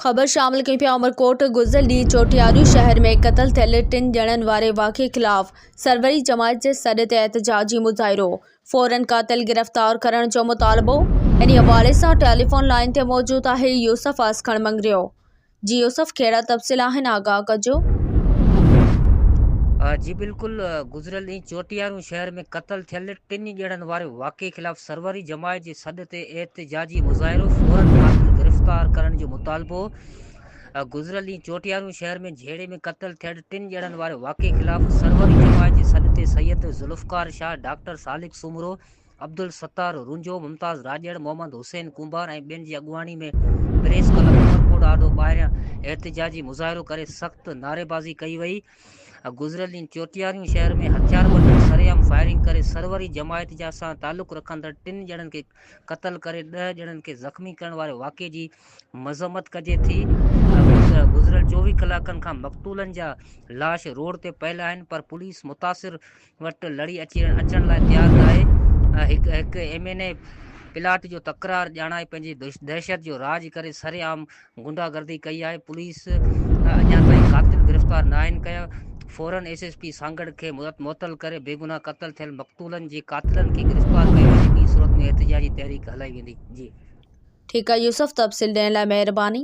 خبر شامل ڪئي پيا عمرڪوٽ، گذريل ڏينهن چوٽياري شهر ۾ قتل ٿيل ٽن ڄڻن واري واقعي خلاف سروري جماعت جي سڏ تي احتجاجي مظاهرو، فورن قاتل گرفتار ڪرڻ جو مطالبو، انهي حوالي سان ٽيليفون لائين تي موجود آهي يوسف آسکڻ مڱريو. جي يوسف ڪهڙا تفصيل آهن آگاهه ڪجو. جي بلڪل گذريل ڏينهن چوٽياري شهر ۾ قتل ٿيل ٽن ڄڻن واري واقعي خلاف سروري جماعت جي سڏ تي احتجاجي مظاهرو، فورن قاتل گرفتار ڪرڻ جو مطالبو، گذريل ڏينهن چوٽيارو شهر ۾ جهيڙي ۾ قتل ٿيل ٽن ڄڻن واري واقعي خلاف سروري جماعت جي سڏ تي سيد ذوالفقار شاهه، ڊاڪٽر سالڪ سومرو، عبدالستار رونجهو، ممتاز راڄڙ، محمد حسين ڪنڀار ۽ ٻين جي اڳواڻي ۾ پريس ڪلب عمرڪوٽ آڏو ٻاهريان احتجاجي مظاهرو ڪري سخت نعريبازي ڪئي وئي. گذريل ڏينهن چوٽياري شهر ۾ هٿياربندن سرعام فائرنگ ڪري سروري جماعت جا سان تعلق رکندڙ ٽن ڄڻن کي قتل ڪري ڏهه ڄڻن کي زخمي ڪرڻ واري واقعي جي مذمت ڪجي ٿي گذريل چوويهه ڪلاڪن کان مقتولن جا لاش روڊ تي پيل آهن پر پوليس متاثر وٽ لڙي اچڻ لاء تيار ناهي، هڪ هڪ ايم اين اي پلاٽ جو تڪرار ڄاڻائي پنهنجي دهشت جو راڄ ڪري سري عام غنڊا گردي ڪئي آهي، پوليس اڃا تائين قاتل گرفتار ناهن ڪيا، فورن ايس ايس پي سانگهڙ کي معطل ڪري بيگناهه قتل ٿيل مقتولن جي قاتلن کي گرفتار ڪيو وڃي ٻي صورت ۾ احتجاجي تحريڪ هلائي ويندي. جي. ٺيڪ آ يوسف تفصيل ڏيڻ لاء مهرباني.